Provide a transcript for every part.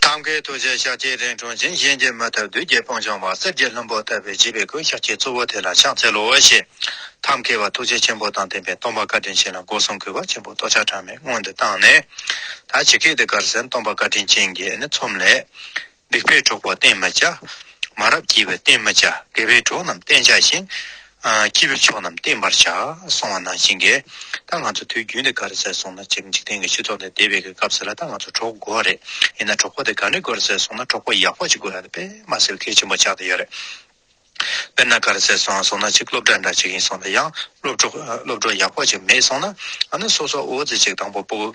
ཐབས་མཁས་རྡོ་རྗེ་ཤཱཀྱའི་རིང་ཁྲོ་འཇིམ་གཞན་གྱིས་མི་ཐུབ་བདུད་རྒྱལ་སྤང་ལྗོངས་པ་གསེར་གྱི་ལྷུན་པོ་བཏབ་པའི་བརྗིད་པའི་གོས་ཤཱཀྱའི་གཙོ་བོ་དེ་ལ་ཕྱག་འཚལ་ལོ་ཞེས་ཐབས་མཁས་པ་ཐུགས་རྗེ་ཆེན་པོ་དང་ལྡན་པས་སྟོང་པ་བཀའ་དྲིན་ཅན་ལ་སྒོ་གསུམ་གུས་པ་ཆེན་པོས་ལྟོ་ཆག་གྲངས་མེད་སྔོན་དུ་བཏང་ནས། ད་ཇི་སྐད་དུ་དགར་ཟན་སྟོང་པ་བཀའ་དྲིན་ཅན་གྱིས་ནི་ཚོམས་ལས། སྡིག་པས་གྲོགས་པོ་བསྟེན་མི་བྱ། མ་རབས་སྐྱིད་པས་བསྟེན་མི་བྱ་དགེ་བས་གྲོགས་རྣམས་བསྟེན་བྱ་ཞིང། སྐྱིད་པའི་ཕྱོགས་རྣམས་བསྟན་པར་བྱ། སོང་བ་ནང་བཞིན་འགལ། ད་ང་ཚོ་དུས་རྒྱུན་དེ་ག་རེ་ཟེར་སོང་ན་འཇིག་རྟེན་གྱི་སྤྱི་ཚོགས་འདི་བདེ་བའི་གི་སྐབས་ཟེར་ལ་ད་ང་ཚོ་གྲོགས་དགོས་བ་རེད་ཡིན་ན་གྲོགས་པོ་དེ་ག་འདྲི་དགོས་རེ་ཟེར་སོང་ན་གྲོགས་པོ་ཡག་པོ་ཅིག་དགོས་ཡ་ད་པད་མ་སེལ་གེ་ཆེན་པོ་ཆགས་ཏེ་ཡོད་རེད། དཔེར་ན་ག་རེ་ཟེར་སོང་སོང་ན་ཅིག་སློབ་གྲྭ་འདྲ་ཅིག་ཡིན་སོང་ད་ཡང་སློབ་གྲོགས་སློབ་གྲོགས་ཡག་པོ་ཅིག་མེད་སོང་ན་ཨ་ན་སོ་སོ་ཨོ་ཙི་ཅིག་དང་པོ་པོ།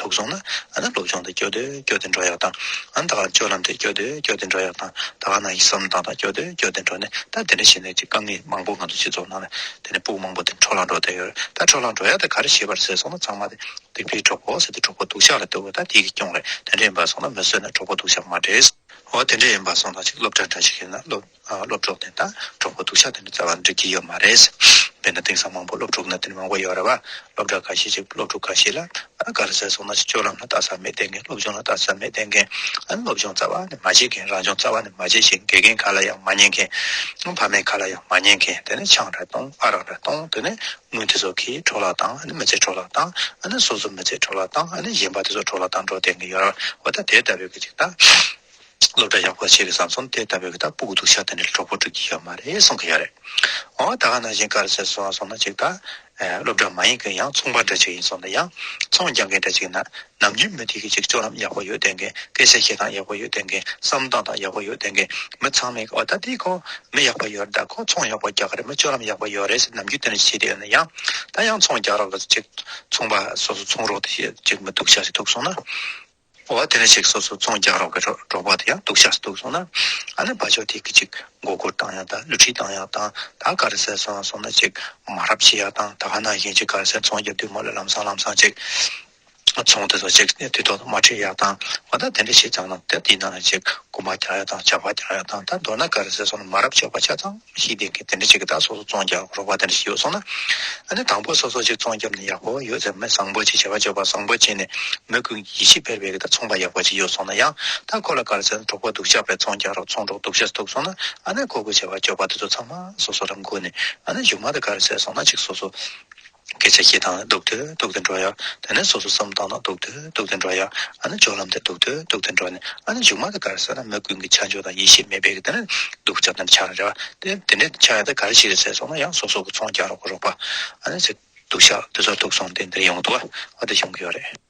དུག་སོང་ན། ཨ་ན་སློབ་སྦྱོང་དུ་སྐྱོ་དུས་སྐྱོ་དེ་འགྲོ་ཡག་དང། ཨ་ན་ད་གར་སྤྱོད་ལམ་དུ་སྐྱོ་དུས་སྐྱོ་དེ་འགྲོ་ཡག་དང། ད་གར་ན་ཡིག་གཟབ་ནན་ཏང་དང་སྐྱོ་དུས་སྐྱོ་དེ་འགྲོ་ནས་ད་དེ་འདྲ་བྱས་ནས་ཀྱི་དཀའ་ངལ་མང་པོ་ང་ཚོ་སྤྱི་ཚོགས་ནང་ལ་དེ་ནས་སྤུག་མང་པོ་དེ་འཕྲོ་བརླག་འགྲོ་དེ་ཡོད་རེད་ད་འཕྲོ་བརླག་འགྲོ་ཡག་དེ་ག་རེ་བྱེད་པར་ཟེར་སོང་ན་ཚང་མ་དེ་དེ་ཕའི་གྲོགས་པོ་ཟེར་དེ་གྲོགས་པོ་དུག་ཤག་ལ་ལྟོས་གོ་ད་དེ་ཀྱི་སྐྱོང་རེད་དེ་འདྲ་ཡིན་པར་སོང་ན་མི་བསོད་ནས་གྲོགས་པོ་དུག་ཤག་མ་བྲེལ། འོ་དེ་འདྲ་ཡིན་པར་སོང་ད་ཅིག་སློབ་གྲྭ་འདྲ་ཞིག་ཡིན་ན་སློབ། སློབ་གྲོགས་དེ་དང་གྲོགས་པོ་སྡུག་ཆགས་དེ་འདྲ་རྩ་བ་འདྲི་གི་ཡོད་མ་རེད། དཔེར་ན་དེང་སང་མང་པོ་སློབ་ཕྲུག་གནའ་དེང་མང་པོ་ཡོད་རེད་བ། སློབ་གྲྭ་ཁ་ཤས་ཀྱི་སློབ་ཕྲུག་ཁ་ཤས་ལ་དགའ་ར་ཟེར་སོང་ན་ཅིག་སྤྱོད་ལམ་ལ་བལྟ་ས་མི་བལྟས་མཁན་སློབ་སྦྱོང་ལ་བལྟ་ས་མི་བལྟས་མཁན། སློབ་སྦྱོང་རྩ་བ་ནས་མ་བྱེད་མཁན་རང་སྦྱོང་རྩ་བ་ནས་མ་བྱེད་ཞེས་དགེ་རྒན་ག་ལ་ཡང་མ་ཉན་མཁན། ཕ་མས་ག་ལ་ཡང་མ་ཉན་མཁན་དེ་ནི་ཆང་རེ་གཏོང་ཨ་རག་རེ་གཏོང་དེ་ནི་དངུལ་དེ་ཚོ་གིས་འཕྲོ་བརླག་དང་མི་ཚེ་འཕྲོ་བརླག་དང་སོ་སོ་མི་ཚེ་འཕྲོ་བརླག་དང་གཞན་པ་དེ་ཚོ་འཕྲོ་བརླག་དང་འགྲོ་བསྡད་ཀྱི་ཡོད་རེད་བ། ད་དེ་ལྟ་བུའི་གི་ཅིག་དང། སློབ་གྲྭ་ཡག་པོ་བྱས་གི་བཟང་ཚོང་དེ་ལྟ་བུ་གི་ད་སྤུག་གི་འདུག་ཤ་ད་ནས་གྲོགས་པོ་སྒྲིག་གི་ཡོད་མ་རེད་གསུང་གི་ཡོད་རེད་འོ་ད་ག་ནང་བཞིན་གར་བྱེད་སོང་སོང་ན་ཅིག་ད་སློབ་གྲྭ་མ་ཡིན་གི་ཡང་ཚོང་པ་འདྲ་ཅིག་ཡིན་སོང་ན་ཡང་ཚོང་རྒྱག་མཁན་འདྲ་ཅིག་ཡིན་ན་ནམ་རྒྱུན་མི་དེ་གི་ཅིག་སྤྱོད་ལམ་ཡག་པོ་ཡོད་དེ་གི་སྐད་ཆ་བཤད་སྟངས་ཡག་པོ་ཡོད་དེ་གི་བསམ་སྟངས་དང་ཡག་པོ་ཡོད་དེ་གི་མི་ཚང་མས་ཨོ་ད་དེ་ཁོ་མི་ཡག་པོ་ཡོད་རེད་ད་ཁོ་ཚོང་ཡག་པོ་རྒྱག་གི་རེད་མི་སྤྱོད་ལམ་ཡག་པོ་ཡོད་རེད་ཟེར་ནམ་རྒྱུན་དེ་འདྲ་བྱས་དེ་ཡོད་ན་ཡང་ད་ཡང་ཚོང་རྒྱག་རོགས་གི་ཅིག་ཚོང་པ་སོ་སོ་ཚོང་རོགས་དེ་ཅིག་མི་འདུག་ཤ་ཅིག་འདུག་སོང་ན། འོ་བ་དེ་འདྲ་ཞིག་སོ་སོ་ཚོང་རྒྱག་རོགས་གི་འབྲོག་པ་དེ་ཡང་སྡུག་ཤག་སྡུག་སོང་ན་ཨ་ནེ་བ་ཅོ་དེ་གི་ཅིག་མགོ་སྒུར་བཏང་ཡག་ད་བསླུ་བྲིད་བཏང་ཡག་དང་ད་ག་རེ་ཟེར་སོང་སོང་ན་ཅིག་མ་རབ་བྱེད་ཡག་དང་ད་ག་ན་བཞིན་ཅིག་ག་རེ་ཟེར་ཚོང་རྒྱབ་དུས་མ་ལུས་ལམ་སང་ལམ་སང་ཅིག་ཚོང་དེ་ཚོ་ཅིག་དུས་ཐོག་ཏུ་མ་ཁྲིད་ཡག་དང་བ་ད་དེ་འདྲ་ཞིག་ཙང་ན་ད་དེའི་ནང་ན་ཅིག་རྐུ་མ་རྒྱག་ཡག་དང་བྱ་བ་རྒྱག་ཡག་དང་ད་མདོར་ན་ག་རེ་ཟེར་སོང་ན་མ་རབ་ཆོག་པ་ཆ་ཚང། གཞིའི་སྟེང་གི་དེ་འདྲ་ཅིག་གི་དག་སོགས་སུ་བཙོང་རྒྱག་རོགས་པ་དེ་འདྲ་ཞིག་ཡོད་སོང་ན། ཨ་ནི་དང་པོ་སོ་སོ་ཅིག་བཙོང་རྒྱབ་ནས་ཡག་པོ་ཡོད་ཚེ་མི་བཟང་པོ་ཅིག་བྱ་བ་སྤྱོད་པ་བཟང་པོ་བྱས་ནས་མི་ཀུན་གྱི་ཡིད་ཆེས་འཕེར་བའི་གི་དག་ཚོང་པ་ཡག་པོ་ཅིག་ཡོད་སོང་ན་ཡང་ད་ཁོ་ལ་དགར་ཚད་གྲོགས་པོ་སྡུག་ཅག་པས་བཙོང་རྒྱག་རོགས་ཚོང་གྲོགས་སྡུག་ཤ་སྟུག་སོང་ན་ཨ་ནི་ཁོ་ཁོའི་བྱ་བ་སྤྱོད་པ་དེ་ཚོ་ཚང་མ་སོ་སོ་ལ་མགུ་ནས་ཨ་ནི་མཇུག་མ་དགར་ཚད་སོང་ན་ཅིག་སོ་སོ་སྐད་ཆ་ཤེས་དང་སྡུག་ཏུ་སྡུག་ཏུ་འགྲོ་ཡ། དེ་ནས་སོ་སོ་བསམ་བཏང་ན་སྡུག་ཏུ་སྡུག་ཏུ་འགྲོ་ཡ། ཨ་ན་ཇོ་ལམ་དེ་སྡུག་ཏུ་སྡུག་ཏུ་འགྲོ་ནས་ཨ་ན་མཇུག་མ་དེ་གར་ཟེར་ན་མི་ཀུན་གྱི་ཆ་འཇོག་དང་ཡིད་ཤེས་མེད་པས་ཀྱི་དེ་ནས་སྡུག་ཆ་དེ་འདྲ་ཆགས་རེད་བ། དེ་འདྲའི་ཆ་ཡང་དེ་ག་རེ་ཞིག་རེད་ཟེར་སོང་ན་ཡང་སོ་སོ་གི་ཚོང་རྒྱག་རོགས་གོ་རོགས་པ། ཨ་ནས་ཟེར། སྡུག་ཆ་དེ་ཚོར་ཐུག་སོང་དེ་འདིར་ཡོང་དུ་བ་དེ་བྱུང་གི་ཡོད་རེད།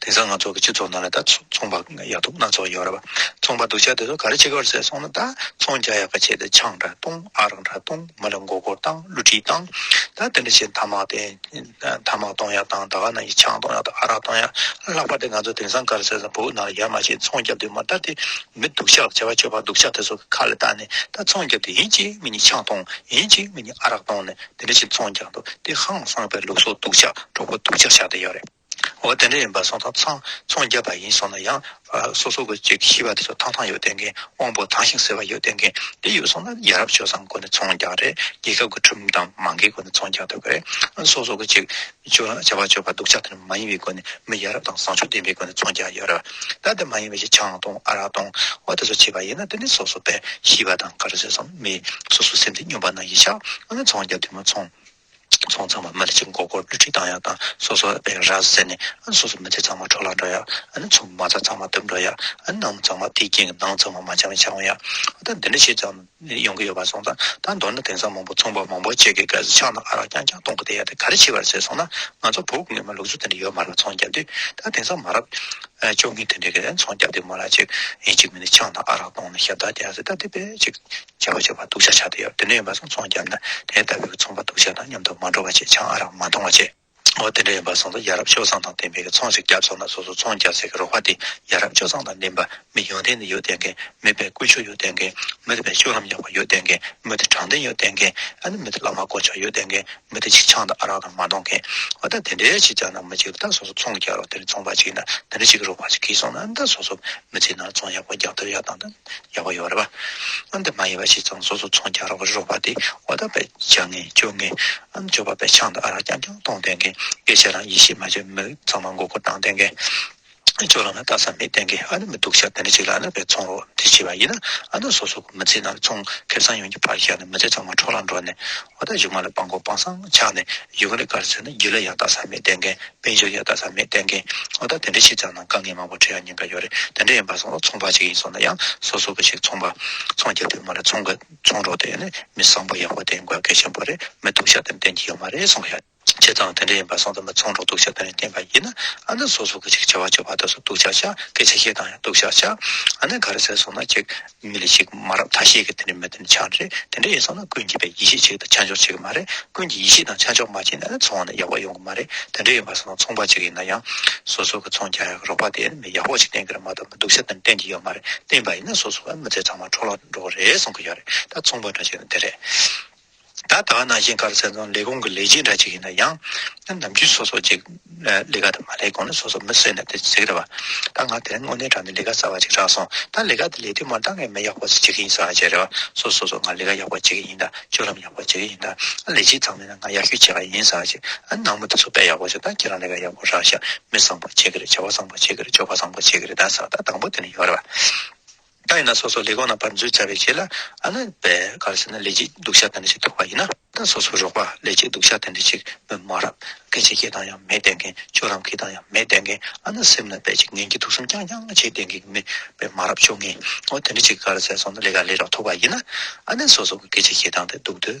དེང་སང་ང་ཚོ་གི་སྤྱི་ཚོགས་ནང་ལ་ད་ཚོང་པ་ཡག་སྡུག་སྣ་ཚོགས་ཡོད་རེད་བ། ཚོང་པ་སྡུག་ཅག་དེ་ཚོ་ག་རེ་བྱེད་ག་བར་ཟེར་སོང་ན་ད་ཚོང་རྒྱག་ཡག་པ་བྱས་ཏེ་ཆང་འདྲ་བཏུང་ཨ་རག་འདྲ་བཏུང་མི་ལ་མགོ་སྐོར་བཏང་བསླུ་བྲིད་བཏང། ད་དེ་འདྲ་བྱེད་ཐ་མག་དེ་ཐ་མག་གཏོང་ཡག་བཏང་ད་ག་ནང་གི་ཆང་གཏོང་ཡག་དང་ཨ་རག་གཏོང་ཡག་ལྷག་པར་དེ་ང་ཚོ་དེང་སང་ག་རེ་ཟེར་ཟིམ་བོའུ་ནང་ལ་ཡར་མར་བྱེད་ཚོང་རྒྱབ་དེ་མ་ད་དེ་མི་སྡུག་ཅག་བྱ་བ་སྤྱོད་པ་སྡུག་ཅག་དེ་ཚོ་གི་ཁ་ལ་བཏགས་ནས་ད་ཚོང་རྒྱབ་དེ་ཡིན་གཅིག་མིན་གཉིས་ཆང་གཏོང་ཡིན་གཅིག་མིན་གཉིས་ཨ་རག་གཏོང་ནས་དེ་འདྲ་ཞིག་ཚོང་ཀྱང་འདུག་དེ་ཧང་སངས་པའི་ལུགས་སྲོག་སྡུག་ཅག་གྲོགས་པོ་སྡུག་ཅག་ཞག་དེ་ཡོད་རེད་འོ་དེ་འདྲ་ཡིན་པ་སོང་ཙང་ཚང་ཚོང་རྒྱབ་པ་ཡིན་སོང་ན་ཡང་སོ་སོ་གི་ཅིག་ཤི་བ་དེ་ཚོ་ཐང་ཐང་ཡོད་བསྡད་མཁན་དབང་པོ་ཐང་ཞིང་ཟེར་བ་ཡོད་བསྡད་མཁན་དེ་ཡོད་སོང་ན་ཡ་རབས་བྱོས་སམ་སྒོ་ནས་ཚོང་རྒྱག་རེད་རྒྱལ་ཁབ་ཀྱི་ཁྲིམས་དང་མང་གི་སྒོ་ནས་ཚོང་རྒྱག་འདོད་པ་རེད་སོ་སོ་གི་ཅིག། བྱ་བ་སྤྱོད་པ་སྡུག་ཅག་དེ་ནི་མ་ཡིན་པའི་སྒོ་ནས་མི་ཡ་རབས་དང་བཟང་ཕྱོགས་ལྡན་པའི་སྒོ་ནས་ཚོང་རྒྱག་ཡ་རབས་ད་དེ་མ་ཡིན་པའི་ཆེ་ཆང་དང་ཨ་རག་དང་བ་དེ་ཚོ་བྱེད་པ་ཡིན་ན་དེ་ནི་སོ་སོ་པས་ཤི་བ་དང་གར་ཟོས་སམ་མེད་སོ་སོའི་སེམས་དེ་སྙོམས་པ་ན་ཡིས་ཤག་ཨ་ནི་ཚོང་རྒྱག་དུས་མ་ཚོང། ཚོང་ཚང་མ་མི་ལ་ཅིག་མགོ་སྐོར་བསླུ་བྲིད་བཏང་ཡ་དང་སོ་སོ་པས་ར་བཟས་ནས་ཨ་ནི་སོ་སོའི་མི་ཚེ་ཚང་མ་འཕྲོག་ལ་འགྲོ་ཡ་ཨ་ནི་ཚོང་མ་ཚང་མ་དུབ་འགྲོ་ཡ་ཨ་ནི་ནང་མི་ཚང་མ་དེའི་རྐྱེན་གྱིས་ནང་ཚང་མ་མ་བྱང་བའི་ཆགས་འོང་ཡ་ཨ་ད་འདི་འདྲ་བྱས་ཙང། ནས་ཡོང་གི་ཡོད་པ་སོང་ཙང་ད་མདོར་ན་དེང་སང་མང་པོ་ཚོང་པ་མང་པོ་བཅས་ཀྱི་སྐལ་བཟང་ཕྱག་ན་ཨ་རག་རྐྱང་རྐྱང་གཏོང་གི་བསྡད་ཡ་དེ་ག་རེ་བྱེད་པར་ཟེར་སོང་ན་ང་ཚོ་བོད་སྐུ་ངལ་མ་ལུག་ཚོ་དེ་འདྲ་ཡོད་མ་རག་ཚོང་རྒྱབ་དུས་ད་དེང་སང་མ་རབས་བཅོ་ལྔའི་དུས་འདྲ་གི་རན་ཚོང་རྒྱབ་དུས་མ་རག་ཅིག་ཡིན་ཅིག་མིན་ནས་ཕྱག་ན་ཨ་རག་གཏོང་ན་ཞབས་བདག་རྒྱག་ཟེར་ད་དེ་བས་ཅིག་བྱ་བ་བྱེད་པར་སྡུག་ཆགས་ཆགས་དུ་ཡོད་དེ་འདྲ་ཡིན་པ་སོང་ཚོང་རྒྱབ་ན་དེ་ལྟ་བུའི་ཚོང་པ་སྡུག་ཆགས་དང་མཉམ་དུ་མ་འགྲོ་བ་ཆེད་ཆང་ཨ་རག་མ་འཐུང་བ་བཅས། འོ་དེ་འདྲ་ཡིན་པ་གསུངས་སོ་ཡ་རབས་ཆོས་བཟང་དང་ལྡན་པའི་ཚོང་ཞིག་རྒྱབ་སོང་ན་སོ་སོ་ཚོང་རྒྱག་ཚད་ཀྱི་རོགས་པ་དེ་ཡ་རབས་ཆོས་བཟང་དང་ལྡན་པ་མི་ཡོང་ཐེངས་ནི་ཡོད་བསྡད་མཁན་མེད་པའི་ཀུ་ཆོས་ཡོད་བསྡད་མཁན་མི་དེ་བས་ཤུགས་ལྷམ་ཡག་པ་ཡོད་བསྡད་མཁན་མི་དེ་དྲང་བདེན་ཡོད་བསྡད་མཁན་ཨ་ནི་མི་དེ་བླ་མ་གོ་ཆོག་ཡོད་བསྡད་མཁན་མི་དེ་ཆིག་ཆང་དང་ཨ་རག་དང་མ་འདོང་མཁན་འོ་ད་དེ་འདྲའི་ཞིག་རྒྱག་ན་མི་ཅིག་ད་སོ་སོ་ཚོང་རྒྱག་རོགས་དེ་རིང་ཚོང་པ་ཅིག་ཡིན་ན་དེ་འདྲ་ཞིག་གི་རོགས་པ་ཞིག་གིས་སོང་ན་ད་སོ་སོ་མི་ཚེ་ནང་ཚོང་ཡག་པོ་རྒྱག་འདོད་ཡག་དང་ད། ཡོད་པ་ཡོད་རེད་པ། ཨ་འདི་མ་ཡིན་པ་ཞིག་ཙང་སོ་སོ་ཚོང་རྒྱག་རོགས་པ་རོགས་པ་དེ་འོ་ད་པའི་བྱ་ངན་སྤྱོད་ངན་ཨ་འབྱོར་པ་པའི་ཆང་དང་ཨ་རག་རྐྱང་རྐྱང་གཏོང་བསྟེན་མཁན་སྐད་ཆ་རང་ཡིད་ཤེས་མ་བྱེད་མི་ཚང་མ་མགོ་སྐོར་བཏང་བསྟེན་མཁན་ཅོག་རང་ལ་བལྟ་ས་མེད་བསྟེན་མཁན་ཨ་ནི་མི་སྡུག་ཤ་དེ་འདྲ་ཞིག་ལ་ཨ་ན་པའི་ཚོང་རོགས་འདི་བྱས་པ་ཡིན་ན་ཨ་ན་སོ་སོ་གི་མི་ཚེ་ནང་ཚོང་ཁེབས་ཚང་ཡོངས་ཀྱི་ཕར་བཞག་ནས་མི་ཚེ་ཚང་མ་འཕྲོག་རང་འགྲོ་ནས་ཨོ་ད་ཞིག་མ་ལ་སྤང་གོ་སྤང་སང་ཆགས་ནས་ཡུལ་ག་རེ་གར་ཟེར་ན་རྒྱུ་ལ་ཡག་དག་ས་མེད་བསྟན་མཁན་དཔལ་འབྱོར་ཡག་དག་ས་མེད་བསྟན་མཁན་ཨོ་ད་དེ་འདྲ་ཞིག་ཙམ་ན་དཀའ་ངལ་མང་པོ་འཕྲད་ཡ་ཉན་ག་ཡོད་རེད་དེ་འདྲ་ཡིན་པ་སང་ལ་ཚོང་པ་ཞིག་ཡིན་སོང་ན་ཡང་སོ་སོ་ག་ཞིག་ཚོང་པ་ཚོང་རྒྱག་དུས་མ་ལ་ཚོང་ག་ཚོང་རོགས་དེ་ནི་མི་བཟང་པོ་ཡག་པོ་དེ་དགོས་གལ་ཆེན་པོ་རེད་མི་སྡུག་ཤ་ཏན་ཏན་གྱི་ཡོད་མ་རེད་སང་ཤ། བྱས་ཙང་དེ་འདྲ་ཡིན་པ་གསང་དུ་མི་ཚང་རོགས་གདུག་བྱ་དོན་ལས་བསྟན་པ་ཡིན། ཨ་ནི་སོ་སོ་གི་ཅིག་བྱ་བ་སྤྱོད་པ་དག་སོགས་གདུག་བྱ་བྱ་སྐད་ཆ་བཤད་སྟངས་ཡང་གདུག་བྱ་བྱ། ཨ་ནི་ག་རེ་ཟེར་སོང་ན་ཅིག་མི་ལ་ཅིག་མ་རབས་ཐ་ཤལ་གྱི་དེ་འདྲའི་མི་དེ་འདྲ་ཆགས་ནི་རེད་དེ་འདྲ་ཡིན་སོང་ན་ཀུན་གྱིས་པའི་ཡེ་ཤེས་ཅིག་དང་ཆ་འཇོག་བྱེད་ཀྱི་མ་རེད་ཀུན་གྱིས་ཡེ་ཤེས་དང་ཆ་འཇོག་མ་བྱས་ན་ནི་ཚོང་བ་ནི་ཡག་པོ་ཡོང་གི་མ་རེད་དེ་འདྲ་ཡིན་པ་སོ་ནི་ཚོང་པ་ཅིག་ཡིན་ན་ཡང་སོ་སོ་གི་ཚོང་རྒྱག་ཡག་གི་རོགས་པ་དེ་ཡང་མི་ཡག་པོ་ཅིག་བསྟེན་གི་རེད་མ་གཏོགས་མི་སྡུག་ཤ་དེ་འདྲ་བསྟེན་གྱི་ཡོད་མ་རེད་བསྟེན་པ་ཡིན་ན་སོ་སོ་བ་མི་ཚེ་ཚང་མ་འཕྲོ་བརླག་ཏུ་འགྲོ་གི་རེད་གསུང་གི་ཡོད་རེད་ད་ཚོང་པ་འདྲ་བྱས་ན་དེ་རེད། ད་ལྟ་ནང་བཞིན་དཀར་མཛེས་རྫོང་ལས་ཁུངས་ཀྱི་ལས་བྱེད་འདྲ་གཅིག་ཡིན་ན་ཡང། ནམ་རྒྱུན་སོ་སོ་ཅིག་ལས་ཀ་དེ་མ་ལས་གོང་ནས་སོ་སོ་མི་བསད་ནས་དེ་བརྩིག་རེ་བ། ད་ང་དེར་དངོས་གནས་དྲང་བདེན་ལས་ཀ་གསར་བ་ཅིག་རག་སོང་ད་ལས་ཀ་དེ་ལས་དུས་མ་འདང་ངས་མི་ཡག་པོ་ཟེར་གྱི་ཡིན་ཟེར་བ་བྱས་རེ་བ་སོ་སོ་སོ་ང་ལས་ཀ་ཡག་པོ་བྱེད་ཀྱི་ཡིན་ད་སྤྱོད་ལམ་ཡག་པོ་བྱེད་ཀྱི་ཡིན་ད་ལས་བྱེད་ཚང་མས་ན་ང་ཡག་ཤོས་བྱེད་ཀྱི་ཡིན་ཟེར་བ་བྱས་ཨ་ནག་མོ་དེ་ཚོ་དཔེ་ཡག་པོ་བྱས་ད་ཁྱེད་རང་ལས་ཀ་ཡག་པོ་རག་ཤག་མི་བཟང་པོ་བྱེད་ཀྱི་རེད་བྱ་བ་བཟང་པོ་བྱེད་ཀྱི་རེད་སྤྱོད་པ་བཟང་པོ་བྱེད་ཀྱི་རེད་ད་ཟེར་བ་ད་དང་པོ་དེ་ནས་ཡོང་རེ་བ། ད་ཡིན་ན་སོ་སོ་ལས་གང་ན་བར་མཛོད་བྱ་བའི་ཆེད་ལ་ཨ་ན། བས་ག་རེ་ཟེར་ན་ལས་ཅིག་འདུག་ཤ་ཐན་ཏྲི་ཞིག་ཐོགས་པ་ཡིན་ན། ད་སོ་སོ་རོགས་པ་ལས་ཅིག་འདུག་ཤ་ཐན་ཏྲི་ཞིག་མོས་མ་རབ། སྐད་ཆ་སྐྱེ་སྟངས་ཡང་མེད་བསྡད་མཁན་ཁྱོད་རང་གི་དང་ཡང་མེད་བསྡད་མཁན་ཨ་ན་སེམས་ན་བས་ཅིག་ངན་གྱི་དུག་གསུམ་རྐྱང་རྐྱང་བྱེད་བསྡད་མཁན་མི་བས་མ་རབ་ཆོ་ངེ་ཨོ་ཐན་ཏྲི་ཞིག་ག་རེ་ཟེར་སོང་ན་ལས་ག་ལས་རོགས་ཐོགས་པ་ཡིན་ན། ཨ་ནས་སོ་སོ་གི་སྐད་ཆ་སྐྱེ་སྟངས་དེ་འདུག་དུས།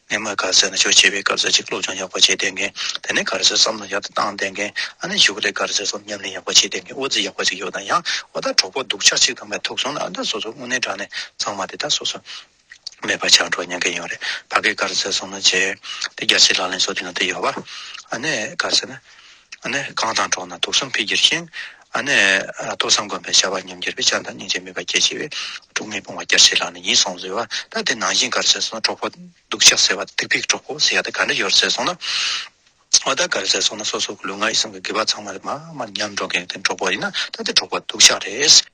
ནས་མར་གར་ཟས་ནི་ཆོས་བྱེད་པའི་གར་ཟས་ཅིག་སློབ་སྦྱོང་ཡག་པོ་བྱས་བསྡད་མཁན་དེ་ནི་གར་ཟས་བསམ་བློ་ཡག་ཏུ་བཏང་བསྡད་མཁན་ཨ་ནེ་ཞུ་ག་ལའི་གར་ཟས་སོམ་ཉམས་ལེན་ཡག་པོ་བྱས་བསྡད་མཁན་དབུ་རྩེ་ཡག་པོ་ཅིག་ཡོད་ན་ཡང་ཨོ་ད་གྲོགས་པོ་སྡུག་ཆགས་ཅིག་དང་མེད་ཐུག་སོང་ན་ཨ་ད་སོ་སོ་དངོས་གནས་དྲང་ནས་ཚང་མ་དེ་དག་སོ་སོ་མེད་པར་ཆགས་འགྲོ་སྙམ་གྱི་ཡོད་རེད་ཕ་གའི་གར་ཟས་སོམ་ལོ་བྱས་དེ་རྒྱ་ཆེ་ལག་ལེན་སོགས་དེ་ན་དེ་ཡོད་པ་ཨ་ནེ་གར་ཟས་ནི། གང་དང་གྲོགས་ན་དུག་གསུམ་འཕེལ་གྱུར་ཞིང། ཐོས་བསམ་སྒོམ་པའི་བྱ་བ་ཉམས་གྱུར་པས་བྱམས་དང་སྙིང་རྗེ་མོས་པ་སྐྱེད་བྱེད་པའི། དཀྲུགས་མེད་སྤོང་བ་སྐྱར་བྱེད་ལག་ན་ཡིད་བཟང་བཟོད་བ་ལྟ་སྟེ་ནང་བཞིན་གར་བྱེད་གསུངས་ན་གྲོགས་པོ། སྡུག་ཅག་ཟེར་བ་ལྟ་དུག་ཕིགས་གྲོགས་པོ་ཟེར་ཡག་ལྟ་ག་འདྲ་ཡོད་ཟེར་གསུངས་ན། བ་ལྟ་གར་བྱེད་གསུངས་ན་སོ་སོ་གི་ལུས་ངག་ཡིད་གསུམ་གྱི་དགེ་བ་ཚང་མ་རེད་མ་མར་ཉམས་འགྲོ་མཁན་གྱི་གྲོགས་པོ་ཡིན་ན་ལྟ་དེ་གྲོགས་པོ་སྡུག་ཅག་རེད།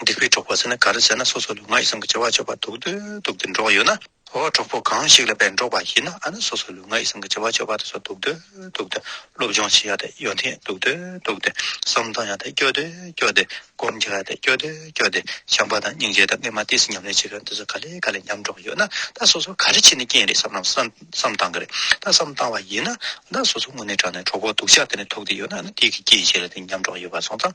སྡིག་པའི་གྲོགས་པོ་ཟེར་ན་ག་རེ་ཟེར་ན་སོ་སོ་ལ་ང་ཡི་བསམ་གྱི་བྱ་བ་ཆོག་པར་འདུག་འདུག་འདུག་སྟེ་འགྲོགས་ཡོད་ན། འོ་གྲོགས་པོ་གང་ཞིག་ལ་བས་འགྲོགས་པ་ཡིན་ན་ཨ་ན་སོ་སོ་ལ་ང་ཡི་བསམ་གྱི་བྱ་བ་ཆོག་པར་དུ་སོ་འདུག་འདུག་འདུག་སྟེ་སློབ་སྦྱོང་བྱེད་ཡ་དེ་ཡོ་འཐེན་འདུག་འདུག་འདུག་སྟེ་བསམ་གཏོང་ཡ་དེ་སྐྱོ་དེ་སྐྱོ་སྟེ་སྒོམ་རྒྱག་ཡ་དེ་སྐྱོ་དེ་སྐྱོ་སྟེ་བྱམས་པ་དང་སྙིང་རྗེ་དང་ལྔས་མ་བསྟེན་ཟིན་ཉམས་ལེན་བྱེད་དགོས་འདི་ཚོ་ག་ལེ་ག་ལེ་ཉམས་འགྲོགས་ཡོད་ན་ད་སོ་སོ་ག་རེ་བྱེད་ནས་རྐྱེན་རེད་བསམ་ནམ་བསམ་བསམ་བཏང་གི་རེད་ད་བསམ་བཏང་བ་ཡིན་ན་ད་སོ་སོ་དངོས་གནས་དྲང་ནས་གྲོགས་པོ་སྡུག་ཅག་དེ་ནས་ཐུག་དེ་ཡོད་ན་ཨ་ན་སྡིག་གི་རྐྱེན་བྱས་ལ་དེ་ཉམས་འགྲོགས་ཡོད་པ་སོང་ཙང།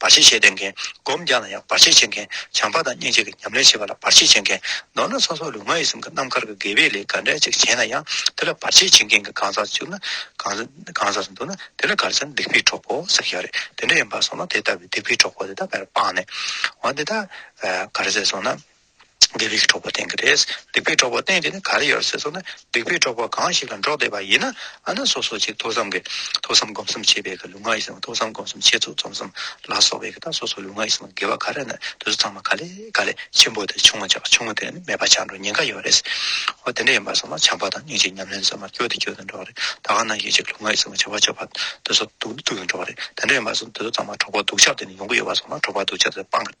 བར་ཆད་བྱེད་དད་མཁན། སྒོམ་རྒྱག་ན་ཡང་བར་ཆད་བྱེད་མཁན། བྱམས་པ་དང་སྙིང་རྗེ་གི་ཉམས་ལེན་བྱེད་པ་ལ་བར་ཆད་བྱེད་མཁན། མདོར་ན་ཚོགས་གསོག་ལུས་ངག་ཡིད་གསུམ་གྱི་རྣམ་དཀར་གྱི་དགེ་བའི་ལས་ག་འདྲ་ཅིག་བྱས་ན་ཡང་དེ་ལ་བར་ཆད་བྱེད་མཁན་གྱི་གང་ཟག་བཅུག་ན། གང་ཟག་འདུག་ན་དེ་ལ་གར་ཆག་སྡིག་པའི་གྲོགས་པོ་ཟེར་ཡོད་རེད། དེ་འདྲ་ཡིན་པར་སོང་ན་དེ་ལྟ་བུའི་སྡིག་པའི་གྲོགས་པོ་དེ་དག་བེར་སྤངས་ནས། འོན་ཏེ་ད། གར་ཟེར་སོང་ན། འདི་རིགས་འཕྲོག་པ་བསྟན་གྱི་རེད། སྡིག་པའི་འཕྲོག་པ་བསྟན་དེ་ནི་ག་རེ་ཡོད་ཟེར་སོང་ན་སྡིག་པའི་འཕྲོག་པ་གང་ཞིག་ལ་འགྲོགས་བསྡད་པ་ཡིན་ན་ཨ་ན་སོ་སོ་ཅིག་ཐོས་བསམ་གྱི་ཐོས་བསམ་སྒོམ་གསུམ་བྱེད་པའི་གི་ལུས་ངག་ཡིད་གསུམ་ཐོས་བསམ་སྒོམ་གསུམ་བྱེད་ཚུལ་རྩོམ་གསུམ་ལ་སོགས་པའི་གི་ད་སོ་སོ་ལུས་ངག་ཡིད་གསུམ་གི་དགེ་བ་ག་རེ་ནི་དུས་ཚང་མ་ག་ལས་ག་ལས་ཆེན་པོ་དེ་ཆུང་མ་ཆག་ཆུང་མ་དེ་ནི་མེད་པ་ཆག་འགྲོ་ཉེན་ཁ་ཡོད་རེད། འོ་དེ་འདྲ་ཡིན་པ་སོང་ན་བྱམས་པ་དང་སྙིང་རྗེ་ཉམས་ལེན་ཟེར་མ་སྐྱོ་དེ་སྐྱོ་དེ་འགྲོགས་རེད་ད་གང་ན་ཞིག་ཅིག་ལུས་ངག་ཡིད་གསུམ་གྱི་བྱ་བ་སྤྱོད་པ་དུས་སོ་དུག་ནི་དུག་ཡིན་འགྲོགས་རེད་དེ་འདྲ་ཡིན་པ་སོང་དུས་ཚང་མ་འཕྲོག་པ་སྡུག་ཆག་དེ་ནི་ཡོང་གི་ཡོད་པ་སོང་ན་འཕྲོག་པ་སྡུག་ཆག་དེ་སྤང་གི་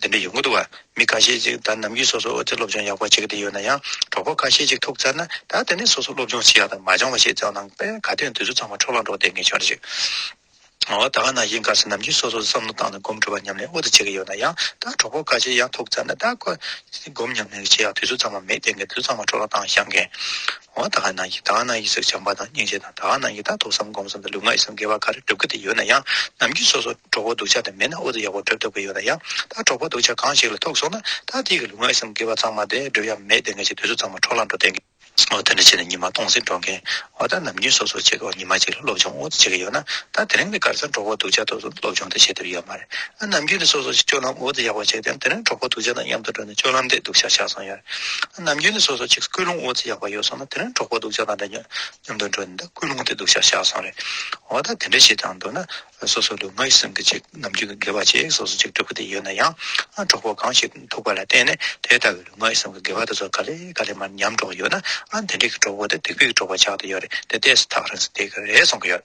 འདི་འདྲ་ཡོང་གི་འདུག་མི་ཁ་ཤས་ཅིག་ད་ནམ་རྒྱུན་སོ་སོའི་ཨོ་རྩལ་སློབ་སྦྱོང་ཡག་པོ་བྱེད་ཀྱི་དེ་ཡོད་ན་ཡང་གྲོགས་པོ་ཁ་ཤས་ཅིག་ཐུག་ཚར་ན་ད་དེ་ནས་སོ་སོ་སློབ་སྦྱོང་བྱེད་ཡག་དང་མ་སྦྱང་བ་ཞིག་བརྩམས་གནང་པས་ག་དུས་འདི་ཚོ་ཚང་མ་འཕྲོ་བརླག་འགྲོ་བསྡད་ངེས་ཤོར་ཅིག་ཨོ་ད་ག་ནང་བཞིན་ག་ས་ནམ་རྒྱུན་སོ་སོ་བསམ་བློ་བཏང་ནས་སྒོམ་སྒྲུབ་པ་ཉམས་ལེན་ཨོ་ཏི་བྱེད་ཀྱི་ཡོད་ན་ཡང་ད་གྲོགས་པོ་ཁ་ཤས་ཡང་ཐུག་ཚར་ན་ད་ཁོ་སྒོམ་ཉམས་ལེན་བྱེད་ཡག་དུས་ཚོད་ཚང་མ་མེད་བསྡད་ངེས་འདི་ཚོ་ཚང་མ་འཕྲོ་བརླག་བཏང་ཤག་མཁན། འོ་ད་ག་ནང་གི་གང་ནང་གི་ཟེར་བྱང་པ་དང་སྙིང་རྗེ་དང་ད་ག་ནང་གི་ད་ཐོག་བསམ་སྒོམ་བསམ་དང་ལུས་ངག་ཡིད་གསུམ་དགེ་བ་ག་རེ་བསྒྲུབ་གི་དེ་ཡོད་ན་ཡང་ནམ་རྒྱུན་སོ་སོར་གྲོགས་པོ་སྡུག་ཆགས་དེ་མེད་ན་ཨོ་ད་ཡག་པོ་བསྒྲུབ་ཐུབ་ཀྱི་ཡོད་ན་ཡང་ད་གྲོགས་པོ་སྡུག་ཆགས་གང་ཞིག་ལ་ཐུག་སོང་ན་ད་དེ་གི་ལུས་ངག་ཡིད་གསུམ་དགེ་བ་གཙང་མ་དེ་བསྒྲུབ་ཡ་མེད་དེ་ངེས་ཅན་དུས་ཚོད་གཙང་མ་འཕྲོག་ལ་འགྲོ་དེ་ཨོ་ད་འདྲ་བྱས་ན་ཉི་མ་སྟོང་ཟིག་འགྲོ་མཁན་ཨོ་ད་ནམ་རྒྱུན་སོ་སོར་བྱེད་ཀྱི་ཨོ་ཉི་མ་གཅིག་ལ་སློབ་སྦྱོང་ཨོ་ད་བྱེད་ཀྱི་ཡོད་ན་ད་དེ་རིང་ནས་ག་རེ་ཟེར་གྲོགས་པོ་སྡུག་ཆགས་ཐུག་སོང་སློབ་སྦྱོང་དེ་བྱེད་ཐུབ་ཀྱི་ཡོད་མ་རེད་ཨ་ནམ་རྒྱུན་ནས་སོ་སོར་སྤྱོད་ལམ་ཨོ་ད་ཡག་པོ་བྱས་དེ་དེ་རིང་གྲོགས་པོ་སྡུག་ཆགས་དང་མཉམ་དུ་འགྲོ་ནས་སྤྱོད་ལམ་དེ་སྡུག་ཆགས་ཆགས་སོང་ཡ་རེད་ནམ་རྒྱུན་ནས་སོ་སོ་ཅིག་སྐུལ་སློང་འོག་ཅི་ཡག་པ་ཡོད་སོང་ན་དེ་རིང་གྲོགས་པོ་སྡུག་ཅག་དང་འདྲ་མཉམ་དུ་འགྲོ་ནས་འདི་སྐུལ་སློང་དེ་སྡུག་ཅག་བཞག་སོང་རེད་འོ་ད་དེ་འདྲ་བྱེད་ཀྱང་འདོད་ན་སོ་སོ་ལུས་ངག་ཡིད་གསུམ་གྱི་ཅིག་ནམ་རྒྱུན་གྱི་དགེ་བ་ཅིག་སོ་སོ་ཅིག་འབྲི་གུ་དེ་ཡོད་ན་ཡང་གྲོགས་པོ་གང་ཞིག་ཐུག་པ་ལ་བརྟེན་ནས་དེ་ལྟ་བུའི་ལུས་ངག་ཡིད་གསུམ་གྱི་དགེ་བ་དེ་ཚོ་ག་ལེ་ག་ལེ་མར་ཉམས་འགྲོ་གི་ཡོད་ན་དེ་འདྲ་གི་གྲོགས་པོ་དེ་དེ་སྐུལ་གི་གྲོགས་པ་ཆགས་ཀྱི་ཡོད་རེད་དེ་དེ་སུ་ཐག་རིང་སོ་དེ་ག་རེ་སོང་གི་ཡོད།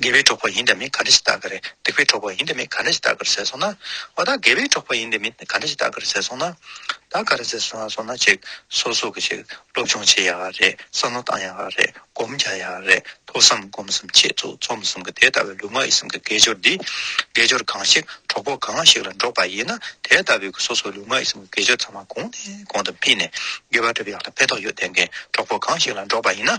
དགེ་བའི་གྲོགས་པོ་ཡིན་དང་མིན་ག་འདྲ་ཞིག་བལྟ་གི་རེད་སྡིག་པའི་གྲོགས་པོ་ཡིན་དང་མིན་ག་འདྲ་ཞིག་བལྟ་གི་རེད་ཟེར་སོང་ན། འོ་ད་དགེ་བའི་གྲོགས་པོ་ཡིན་དང་མིན་ག་འདྲ་ཞིག་བལྟ་གི་རེད་ཟེར་སོང་ན། ད་ག་རེ་ཟེར་སོང་ན་ཅིག་སོ་སོ་གི་ཅིག་སློབ་སྦྱོང་བྱེད་ཡག་རེད་བསམ་བློ་བཏང་ཡག་རེད་སྒོམ་རྒྱག་ཡག་རེད་ཐོས་བསམ་སྒོམ་གསུམ་ཆེད་བཙུགས་རྩོམ་གསུམ་གྱི་དེ་ལྟ་བུའི་ལུས་ངག་ཡིད་གསུམ་གྱི་དགེ་སྦྱོར་འདི། དགེ་སྦྱོར་གང་ཞིག་གྲོགས་པོ་གང་ཞིག་ལ་འགྲོགས་པ་ཡིན་ན་དེ་ལྟ་བུའི་གི་སོ་སོའི་ལུས་ངག་ཡིད་གསུམ་གྱི་དགེ་སྦྱོར་ཚང་མ་གོང་ནས་གོང་དུ་སྤེལ་ནས་དགེ་བ་སྒྲུབ་ཡག་ལ་ཕན་ཐོགས་ཡོད་ལྡན་མཁན་གྲོགས་པོ་གང་ཞིག་ལ་འགྲོགས་པ་ཡིན་ན།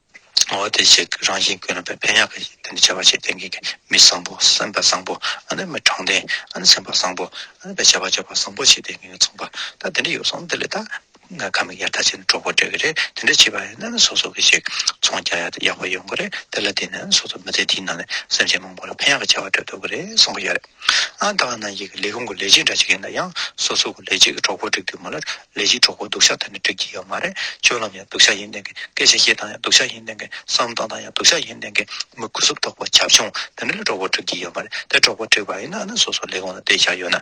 འོ་དེ་ཞིག་རང་བཞིན་ཀུན་རྣམ་པའི་ཕན་ཡོན་གྱི་དོན་དུ་བྱ་བ་ཞེས་དོན་གྱིས་ཀྱི་མི་བཟང་པོ་སེམས་དཔའ་བཟང་པོ་ཨ་ནུས་མི་དྲང་བདེན་ཨ་ནི་སེམས་དཔའ་བཟང་པོ་ཨ་ནི་བྱ་བ་སྤྱོད་པ་བཟང་པོ་ཞེས་དོན་གྱིས་ཀྱི་མཚུངས་པ་དག་དེ་འདྲ་ཡོད་སོང་དེ་ལས་དག་ང་ཁ་མིག་ཡར་ལྟ་བྱས་ནས་གྲོགས་པོ་འབྲལ་གྱི་རེད་དེ་འདྲ་བྱས་པ་ཡིན་ན་ནི་སོ་སོ་གྱིས་ཤིག་མཚུངས་རྒྱག་ཡ་ཡག་པོ་ཡོང་གི་རེད་དེ་ལ་བརྟེན་ནས་ནི་སོ་སོ་མི་ཚེ་འདིའི་ནང་ནས་སེམས་ཅན་མང་པོ་ལ་ཕན་ཡག་གི་བྱ་བ་སྤྲོད་ཐུབ་ཀྱི་རེད་བསམ་གྱི་ཡོད་རེད། ཨང་གྲངས་ནང་ཞིག་གི་ལས་ཁུངས་ཀྱི་ལས་བྱེད་འདྲ་གཅིག་ཡིན་ན་ཡང་སོ་སོ་གི་ལས་བྱེད་ཀྱི་གྲོགས་པོ་བསྒྲིགས་དུས་མོ་ལ་ལས་བྱེད་གྲོགས་པོ་སྡུག་ཤ་ཐོན་ནས་བསྒྲིགས་ཀྱི་ཡོད་མ་རེད་སྤྱོད་ལམ་ཡང་སྡུག་ཤ་ཡིན་ལྡན་གི་སྐད་ཆ་བཤད་སྟངས་ཡང་སྡུག་ཤ་ཡིན་ལྡན་གི་བསམ་སྟངས་དང་ཡང་སྡུག་ཤ་ཡིན་ལྡན་གི་མི་གུས་སུབ་དོགས་པ་ཁྱབ་ཆུང་དེ་འདྲ་ལ་གྲོགས་པོ་བསྒྲིགས་ཀྱི་ཡོད་མ་རེད་དེ་གྲོགས་པོ་བསྒྲིགས་པ་ཡིན་ན་ཨ་ན་སོ་སོ་ལས་ཁུངས་ལ་བསྡད་བཞག་ཡོད་ན།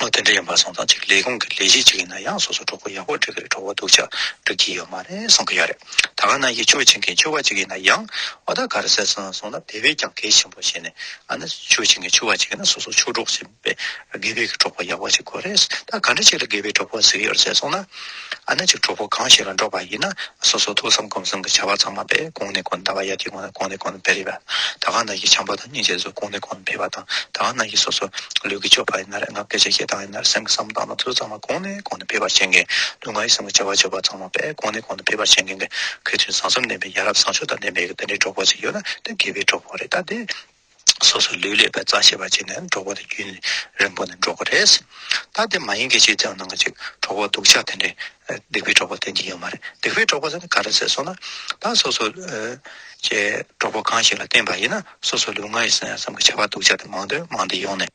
ལོ་དེ་འདྲ་ཡིན་པར་སོང་ཙང་ཅིག་ལས་ཁུངས་ཀྱི་ལས་གཞི་ཅིག་ཡིན་ན་ཡང་སོ་སོ་གྲོགས་པོ་ཡག་པོ་སྒྲིག་གི་རེད་གྲོགས་པོ་སྡུག་ཅག་སྒྲིག་གི་ཡོད་མ་རེད་གསུང་གི་ཡོད་རེད་ད་ག་ནང་གི་ཆོས་བྱེད་མཁན་ཆོས་པ་ཅིག་ཡིན་ན་ཡང་འོ་ད་གར་ཟེར་སོང་སོང་ན་བེད་བེད་ཀྱང་གལ་ཆེན་པོ་བྱེད་ནས་ཨ་ན་ཆོས་བྱེད་མཁན་ཆོས་པ་ཅིག་ཡིན་ན་སོ་སོ་ཆོས་གྲོགས་བྱེད་པའི་དགེ་བེད་ཀྱི་གྲོགས་པོ་ཡག་པོ་ཅིག་དགོས་རེད་ད་ག་འདྲ་ཞིག་ལ་དགེ་བེད་གྲོགས་པོ་ཟེར་གི་ཡོད་རེད་ཟེར་སོང་ན། ཨ་ན་ཅིག་གྲོགས་པོ་གང་ཞིག་ལ་འགྲོགས་པ་ཡིན་ན་སོ་སོ་ཐུགས་བསམ་སྒོམ་གསུམ་གྱི་བྱ་བ་ཚང་མ་པས་གོང་ནས་གོང་དུ་བཟླ་བ་ཡ་དེ་གོང་ནས་གོང་ནས་གོང་དུ་སྤེལ་རེས་པས་ད་གང་ན་གྱི་བྱམས་པ་དང་སྙིང་རྗེ་སོགས་གོང་ནས་གོང་དུ་འཕེལ་བ་དང་ད་གང་ན་གྱི་སོ་སོ་ལུས་ཀྱི་སྤྱོད་པ་ཡིན་ནར་ངག་སྐད་ཆ་བཤད་སྟངས་ཡིན་ནར་སེམས་ཀྱི་བསམ་སྟངས་དང་ཚུལ་ཚང་མ་གོང་ནས་གོང་དུ་འཕེལ་བར་བྱེད་མཁན་ལུས་ངག་ཡིད་གསུམ་གྱི་བྱ་བ་སྤྱོད་པ་ཚང་མ་པས་གོང་ནས་གོང་དུ་འཕེལ་བར་བྱེད་མཁན་གྱི་ཁོས་ཐུན་བཟང་གསུམ་ལྡན་པའི་ཡ་རབས་བཟང་སྤྱོད་དང་ལྡན་པའི་དེ་འདྲའི་གྲོགས་པོ་ཅིག་ཡོད་ན་དེ་དགེ་བའི་གྲོགས་པོ་རེད་ད་དེ། སོ་སོའི་ལུས་ལས་པའི་རྩ་ཤེས་པར་བྱས་ནས་འགྲོགས་པ་དེ་རྒྱུན་རིང་པོ་ནས་འགྲོགས་པ་རེད། ད་དེ་མ་ཡིན་གྱི་ཕྱིར་དེའང་ནང་གི་ཅིག་གྲོགས་པོ་སྡུག་ཅག་དེ་འདྲས་སྡིག་པའི་གྲོགས་པོ་སྟོན་གྱི་ཡོད་མ་རེད་སྡིག་པའི་གྲོགས་པོ་ཟེར་ན་ག་རེ་ཟེར་སོང་ན་ད་སོ་སོ་ཀྱི་གྲོགས་པོ་གང་ཞིག་ལ་བརྟེན་པ་ཡིན་ན་སོ་སོའི་ལུས་ངག་ཡིད་གསང་ཡང་བསམ་གྱི་བྱ་བ་སྡུག་ཅག་དེ་མང་དོན་མང་དེ་ཡོང་ནས།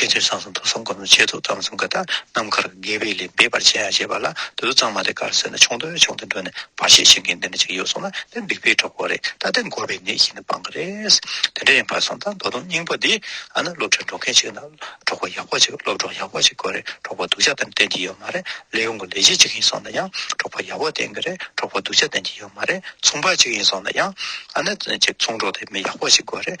དགེ་ཚུལ་བཟང་གསུམ་ཐུགས་བསམ་སྒོམ་ལམ་ཆད་ཐོ་དམ་གསུམ་ཀ་དག་ནམ་མཁར་དགེ་བའི་ལས་འབད་པར་བྱེད་ཡ་བྱེད་པ་ལ་དུས་ཏོག་ཙང་མ་དེ་གར་སོན་ན་ཆུང་དུ་ཆུང་དུ་འགྲོ་ནས་བར་ཤེས་བྱེད་མཁན་དེ་འདྲ་ཅིག་ཡོད་སོང་ན་དེ་འབིགས་པའི་གྲོགས་པོ་རེད་ད་དེ་འགོ་བའི་གནས་ཤིག་ནས་སྤང་གི་རེད། དེ་འདྲ་ཡིན་པར་སོང་ད་མདོ་དོམ་སྙིང་པོ་འདི་ཨ་ན་སློབ་གྲྭར་འགྲོ་མཁན་ཞིག་ན་གྲོགས་པོ་ཡག་པོ་ཅིག་སློབ་གྲོགས་ཡག་པོ་ཅིག་དགོས་རེད་གྲོགས་པོ་སྡུག་ཅག་དེ་འདྲ་བསྟེན་གྱི་ཡོད་མ་རེད་ལས་ཡོང་གི་ལས་བྱེད་ཅིག་ཡིན་སོང་ན་ཡང་གྲོགས་པོ་ཡག་པོ་བསྟེན་གི་རེད་གྲོགས་པོ་སྡུག་ཅག་བསྟེན་གྱི་ཡོད་མ་རེད་ཚོང་པ་ཅིག་ཡིན་སོང་ན་ཡང་ཨ་ན་ཅིག་ཚོང་གྲོགས་དེ་མི་ཡག་པོ་ཞིག་དགོས་རེད།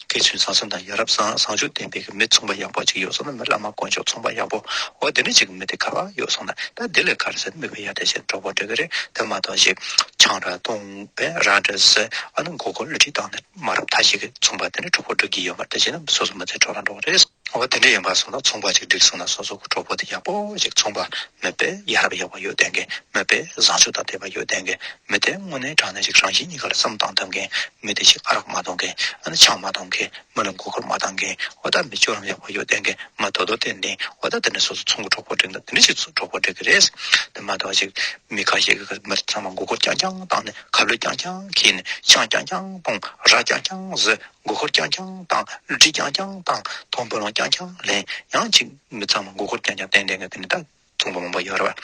སྐད་ཚོད་བཟང་བཟང་དང་ཡ་རབས་བཟང་བཟང་ཆོས་ལྡན་པའི་གི་མི་ཚོང་པ་ཡག་པོ་ཅིག་ཡོད་སོང་ན་མི་བླ་མ་དཀོན་མཆོག་ཚོང་པ་ཡག་པོ་འོ་དེ་འདྲ་ཅིག་གི་མི་དེ་ག་ལ་ཡོད་སོང་ན་ད་དེ་ལས་ག་རེ་ཟེར་ན་མི་བུ་ཡ་དེ་བཞིན་གྲོགས་པོ་འདྲ་གི་རེད་དེ་མ་གཏོགས་ཞིག་ཆང་རག་བཏུང་བས་རང་འདྲ་ཟེར་ཨ་ནི་མགོ་སྐོར་བསླུ་བྲིད་བཏང་ནས་མ་རབས་མཐའ་ཞིག་གི་ཚོང་པ་དེ་འདྲ་གྲོགས་པོ་འགྲོ་གི་ཡོད་མ་རེད་དེ་བཞིན་ན་སོ་སོ་མི་ཚེ་འཕྲོག་རང་འགྲོ་བ་རེད། འོ་དེ་འདྲ་ཡིན་པ་སོང་ན་ཚོང་པ་ཅིག་བསྒྲིགས་སོང་ན་སོ་སོ་གི་གྲོགས་པོ་དེ་ཡག་པོ་ཞིག་ཚོང་པ་མོད་པས་ཡ་རབས་ཡག་པོ་ཡོད་ལྡན་མཁན་མོད་པས་བཟང་ཕྱོགས་དང་དད་པ་ཡོད་ལྡན་མཁན་མོད་དེ་དངོས་གནས་དྲང་གནས་ཤིག་རང་བཞིན་གཉིས་ཀ་ལ་བསམ་གཏང་ཐུབ་མཁན་མོད་དེ་ཞིག་ཨ་རག་མ་གཏོང་མཁན་ཨ་ནི་ཆང་མ་གཏོང་མཁན་མོད་ལ་མགོ་སྐོར་མ་བཏང་མཁན་འོ་ད་མི་སྤྱོད་ལམ་ཡག་པོ་ཡོད་ལྡན་མཁན་མོད་དོ་དོ་ཏན་ཏན་འོ་ད་དེ་འདྲ་སོ་སོ་ཚོང་གི་གྲོགས་པོ་བསྒྲིགས་ན་དེ་འདྲ་ཞིག་གྲོགས་པོ་བསྒྲིག་གི་རེད་དེ་མ་གཏོགས་ཅིག་མི་ཁ་ཤས་ཀྱི་མི་ཚང་མ་མགོ་སྐོར་རྐྱང་རྐྱང་བཏང་ནས་ཁ་ལོད་རྐྱང་རྐྱང་ཁྱེར་ནས་ཆང་རྐྱང་རྐྱང་གཏོང་རག་རྐྱང་རྐྱང་བཟོས་མགོ་འཁོར་ཀྱང་ཀྱང་བཏང། བསླུ་བྲིད་ཀྱང་ཀྱང་བཏང། མཐོང་འཕོ་ལོང་ཀྱང་ཀྱང་ལེན། ཡང་ཅིག་མི་ཚང་མ་མགོ་འཁོར་ཀྱང་ཀྱང་བསྟན། དེ་འདྲའི་ནད་རྟགས་མཚུངས་པ་མང་པོ་ཡོད་རེད།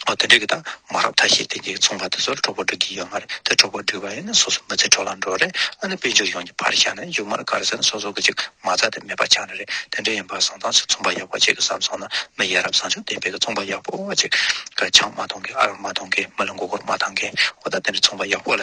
འོ་དེ་འདྲའི་རྟགས་མང་རབས་ཐ་ཤལ་དེ་འདྲའི་མཚུངས་པ་དེ་ཚོར་གྲོགས་པོ་འགྲིག་གི་ཡོད་མ་རེད་དེ་གྲོགས་པོ་འགྲིག་པ་ཡིན་ན་སོ་སོ་མི་ཚེ་འཕྲོ་བརླག་འགྲོ་རེད་ཨ་ནི་དཔལ་འབྱོར་ཡོངས་ཀྱི་བར་ཤ་ནས་ཡུག་མར་དཀར་ཟེར་ན་སོ་སོ་གི་ཅིག་མ་རྩ་དེ་མེད་པ་ཆགས་ནི་རེད་དེ་འདྲ་ཡིན་པ་བཟང་ཐང་ཞིག་མཚུངས་པ་ཡག་པོ་ཅིག་བསམ་སོང་ན་མི་ཡ་རབས་བཟང་ཕྱོགས་ལྡན་པའི་གི་མཚུངས་པ་ཡག་པོ་ཅིག་གི་ཆང་མ་འཐུང་མཁན་ཨ་རག་མ་འཐུང་མཁན་མི་ལ་མགོ་འཁོར་མ་འཐང་མཁན་འོ་ད་དེ་འདྲའི་མཚུངས་པ་ཡག་པོ་ལ་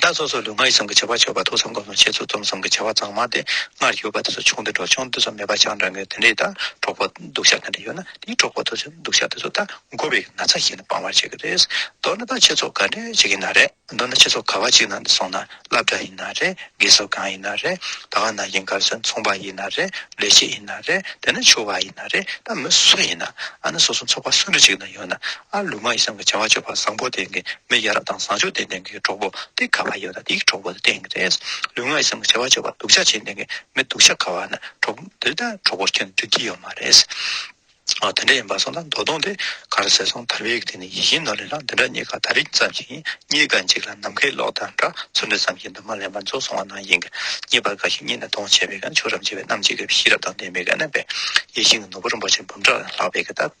བདག་སོ་སོ་ལུས་ངག་ཡིད་གསུམ་གྱི་བྱ་བ་ཆོད་པ་ཐུགས་སམ་སྒོམ་སམ་ཆེ་ཚུལ་རྩོམ་སོམ་གྱི་བྱ་བ་གཙང་མ་དེ་སྔར་ཡོད་པ་དེ་ཚོ་ཆུང་དུ་འགྲོ་ཆུང་དུ་ཚོ་མེད་པ་ཆང་འདྲ་ངོས་དེ་འདྲའི་དང་གྲོགས་པོ་སྡུག་ཤ་དེ་འདྲ་ཡོད་ན་དེའི་གྲོགས་པོ་དེ་ཚོའི་སྡུག་ཤ་དེ་ཚོ་དང་མགོ་བའི་ན་ཚ་ཞིག་ནི་སྤང་བར་བྱེད་ཀྱི་རེད། མདོར་ན་ད་ཁྱེད་ཚོ་ག་འདྲའི་བྱེད་ཀྱི་ན་རེ། མདོར་ན་ཁྱེད་ཚོ་ག་བ་གཅིག་ནང་དུ་སོང་ན་བླ་བྲ་ཡིན་ན་རེ་དགེ་ཚོ་གང་ཡིན་ན་རེ་ད་ག་ན་ཡིན་གར་སོན་ཚོང་པ་ཡིན་ན་རེ་ལས་བྱེད་ཡིན་ན་རེ་དེ་ན་ཆོས་བ་ཡིན་ན་རེ་ད་མི་སུ་ཡིན་ན་ཨ་ན་སོ་སོ་ཚོགས་པ་སུ་འདྲ་ཅིག་ན་ཡོད་ན་ཨ་ལུ་མ་ཡི་སྲང་གི་བྱ་བ་སྤྱོད་པ་བཟང་པོ་ལྡན་གི་མི་ཡ་རབས་དང་བཟང་སྤྱོད་ལྡན་ལྡན་གི་གྲོགས་པོ་སྟེ་ཁ་བ་ཡོད་ལ་དེའི་གྲོགས་པོ་ལྡན་གི་རེད། ལུས་ངག་ཡི་སྲང་གི་བྱ་བ་སྤྱོད་པ་སྡུག་ཆགས་ཆེ་ལྡན་གི་མི་སྡུག་ཆགས་ཁ་བ་ན་གྲོགས་པོ་འདི་ལྟ་གྲོགས་པོ་ཁྱོད་འགྲིག་གི་ཡོད་མ་རེད། འོ་དེ་འདྲ་ཡིན་པ་སོང་ད་མདོ་སྟོང་དེ་གར་ཟེར་སོང་དར་བའི་དེ་ནས་ཡིད་བཞིན་ནོར་ལེ་ལགས་འདི་འདྲ་གཉིས་ཀ་ད་རིག་ཙམ་ཞིག་ཡིན་གཉིས་ཀ་འཇིག་ལ་ནམ་མཁའི་གློག་དང་འདྲ་ཚུར་འདྲི་ཙམ་ཞིག་འདུག་མ་ལན་པ་རྫོགས་སོང་བ་ན་ཡིན་གི་གཉིས་པ་འགའ་ཞིག་གཉིས་ནས་སྟོང་བྱས་པའི་གང་ཆོས་རབ་འབྱེད་པའི་རྣམ་འབྱེད་ཀྱི་ཤེས་རབ་དང་ལྡན་པའི་གནས་པས་ཡིད་བཞིན་གྱི་ནོར་བུ་རིན་པོ་ཆེ་འབུམ་ཕྲག་ལྷག་པའི་གདབ།